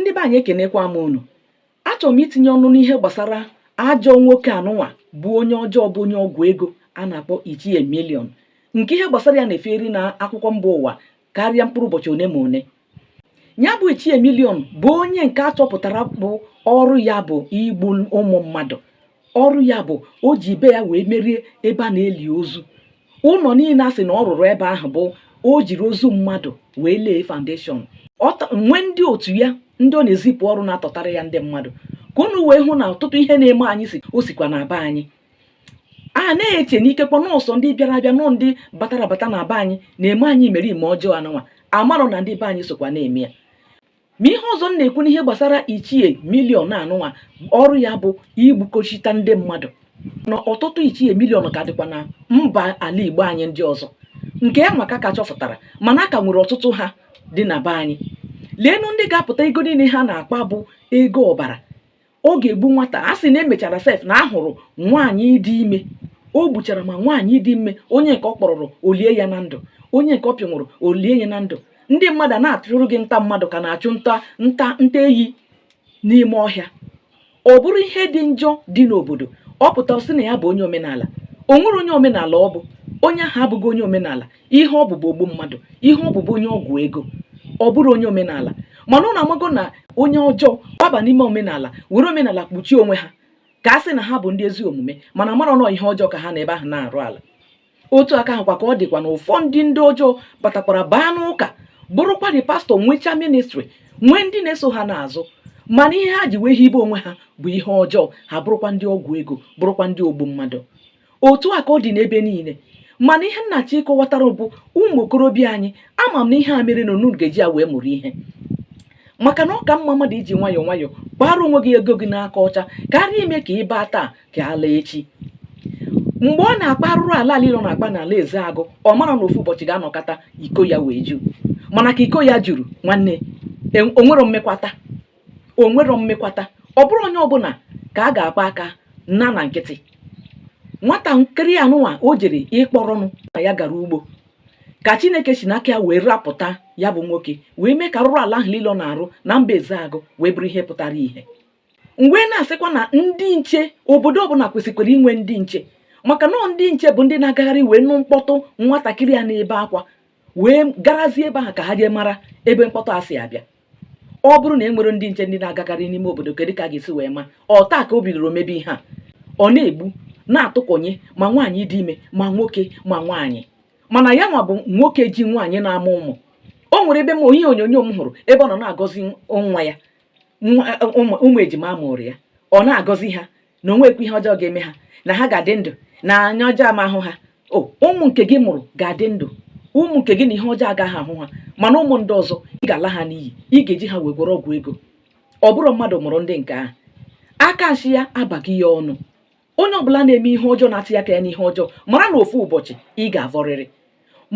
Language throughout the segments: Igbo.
ndị be anyị ekenekwa m unu achọrọ m itinye ọnụ n'ihe gbasara ajọ nwoke anụnwa bụ onye ọjọọ bụ onye ọgwụ ego a na-akpọ ichie million nke ihe gbasara ya na-efeeri na akwụkwọ mba ụwa karịa mkpụrụ ụbọchị one ma one ya bụ ichie million bụ onye nke a chọpụtara bụ ọrụ ya bụ igbu ụmụ mmadụ ọrụ ya bụ o ji be ya wee merie ebe a na-eli ozu ụlọ niile a sị na ọ rụrụ ebe ahụ bụ o jiri ozu mmadụ wee lay foundation nwee ndị otu ya ndị ọ na-ezipụ ọrụ na-atọtara ya ndị mmadụ ka unu wee hụ na ọtụtụ ihe na-eme anyị o sikwa na be anyị a na-eche na ikekwa na ọ sọ ndị bịara abịa na ọ ndị batara abata na be anyị na-eme anyị emereme ọjọọ anụnwa amarọ na ndị be anyị sokwa na-eme ya ma ihe ọzọ m na-ekwu n'ihe gbasara ichie million anụnwa ọrụ ya bụ igbukochita ndị mmadụ na ọtụtụ ichie million ka dịkwa na mba ala igbo anyị ndị ọzọ nke anwa ka a ka chọpụtara mana a ka nwere ọtụtụ ha dị na be anyị leenụ ndị ga-apụta ego niile ha na-akpa bụ ego ọbara ọ ga-egbu nwata a sị na e mechara sef na a hụrụ nwaanyị dị ime o gbuchara ma nwaanyị dị ime onye nke ọ kpọrọrọ o lie ya na ndụ onye nke ọ pịnwụrụ o lie ya na ndụ ndị mmadụ na-achụrụ gị nta mmadụ ka a na-achụ nta eyi n'ime ọhịa ọ bụrụ ihe dị njọ dị n'obodo ọ pụtara sị na ya bụ onye omenala o nwerọ onye omenala ọ bụ onye ahụ abụghị onye omenala ihe ọ bụ bụ ogbu mmadụ ihe ọ bụ bụ onye ọgwụ ego ọ bụrọ onye omenala mana unu amago na onye ọjọọ gbaba n'ime omenala were omenala kpuchie onwe ha ka a sị na ha bụ ndị ezi omume mana mara na ọ ihe ọjọọ ka ha nọ ebe ahụ na-arụ ala otu aka ahụkwa ka ọ dịkwa na ụfọdụ ndị ọjọọ batakwara baa n'ụka bụrụkwadị pastor nwechaa ministry nwee ndị na-eso ha n'azụ mana ihe ha ji wee hibe onwe ha bụ ihe ọjọọ ha bụrụkwa ndị ọgwụ ego bụrụkwa ndị ogbu mmadụ otu a ka ọ dị n'ebe niile mana ihe m na-achọ ịkọwatara bụ ụmụ okorobịa anyị ama m na ihe a mere na unu ga-eji ya wee mụrụ ihe maka na ọ ka mma mmadụ iji nwayọọ nwayọọ kpara onwe gị ego gị n'aka ọcha karịa ime ka ị baa taa ka a laa echi mgbe ọ na-akpa arụrụ ala niile ọ na-akpa n'ala ezeagụ ọ mara na ofu ụbọchị ga-anọkata iko ya wee ju mana ka iko ya juru nwanne e- o nwerọ mmekwata o nwerọ mmekwata ọ bụrọ onye ọbụla ka a ga-akpa aka naa na nkịtị nwatakịrị anụnwa o jere ịkpọrọ nna ya gara ugbo ka chineke si n'aka ya wee rapụta ya bụ nwoke wee mee ka arụrụ ala ahụ niile ọ na-arụ na mba ezeagụ wee bụrụ ihe pụtara ihe m wee na-asịkwa na ndị nche obodo ọbụla kwesịkwara inwe ndị nche maka na ndị nche bụ ndị na-agagharị wee nụ mkpọtụ nwatakịrị ya na-ebe akwa wee garazie ebe ahụ ka ha jee mara ebe mkpọtụ a si abịa ọ bụrụ na e nwere ndị nche ndị na-agagharị n'ime obodo kedu ka a ga-esi wee ma ọ taa ka o bidoro mebe ihe a ọ na-egbu na-atụkọnye ma nwaanyị dị ime ma nwoke ma nwaanyị mana ya nwa bụ nwoke ji nwaanyị na-amụ ụmụ o nwere ebe m ihe onyonyo m hụrụ ebe ọ nọ na-agọzi nwa ya nwa- ụmụ ụmụ ejima a mụụrụ ya ọ na-agọzi ha na o nwekwa ihe ọjọọ ga-eme ha na ha ga-adị ndụ na anya ọjọọ ama ahụ ha o ụmụ nke gị mụrụ ga-adị ndụ ụmụ nke gị na ihe ọjọọ agaghị ahụ ha mana ụmụ ndị ọzọ ị ga-ala ha n'iyi ị ga-eji ha wee gwọrọ ọgwụ ego ọ bụrụ mmadụ mụrụ ndị nke ahụ aka nshi ya abago ya ọnụ onye ọbụla na-eme ihe ọjọọ na-atị aka ya n'ihe ọjọọ mara na ofu ụbọchị ị ga-avọrịrị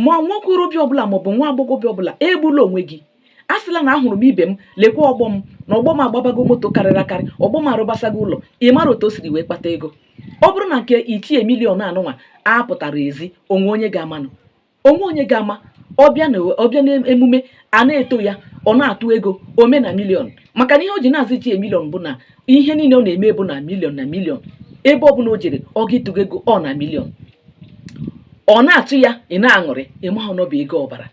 ma nwa okorobịa ọbụla maọbụ nwa agbọghọbịa ọbụla egbula onwe gị asịla na ahụrụ m ibe m lekwa ọgbọ m na ọgbọ m agbabago moto karịrị akarị ọgbọ m arụbasago ụlọ ị mara otu o siri wee kpata ego ọ bụrụ na nke ichie million anụnwa apụtarọ ezi o nwe onye ga-amanụ o nwe onye ga-ama ọ bịa n'emume a na-eto ya ọ na-atụ ego ome na million maka na ihe o ji na-aza ichie million bụ na ihe niile ọ na-eme bụ na million na million ebe ọ bụla o jere ọ ga-atụ ego ọ na million ọ na-atụ ya ị na-aṅụrị ị mahụ na ọ bụ ego ọbara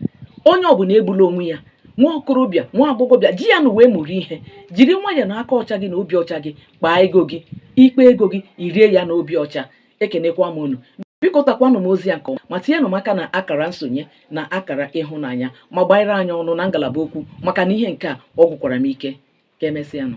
onye ọbụla egbula onwe ya nwa okorobịa nwa agbọghọbịa ji ya nwa wee mụrụ ihe jiri nwayọ na aka ọcha gị na obi ọcha gị kpaa ego gị ị kpaa ego gị i rie ya na obi ọcha ekenekwa m unu biko takwanụ m ozi ya nke ọma ma tinyenụ m aka na akara nsonye na akara ịhụnanya ma gbanyere anyị ọnụ na ngalaba okwu maka na ihe nke a ọ gwụkwara m ike ka emesịanụ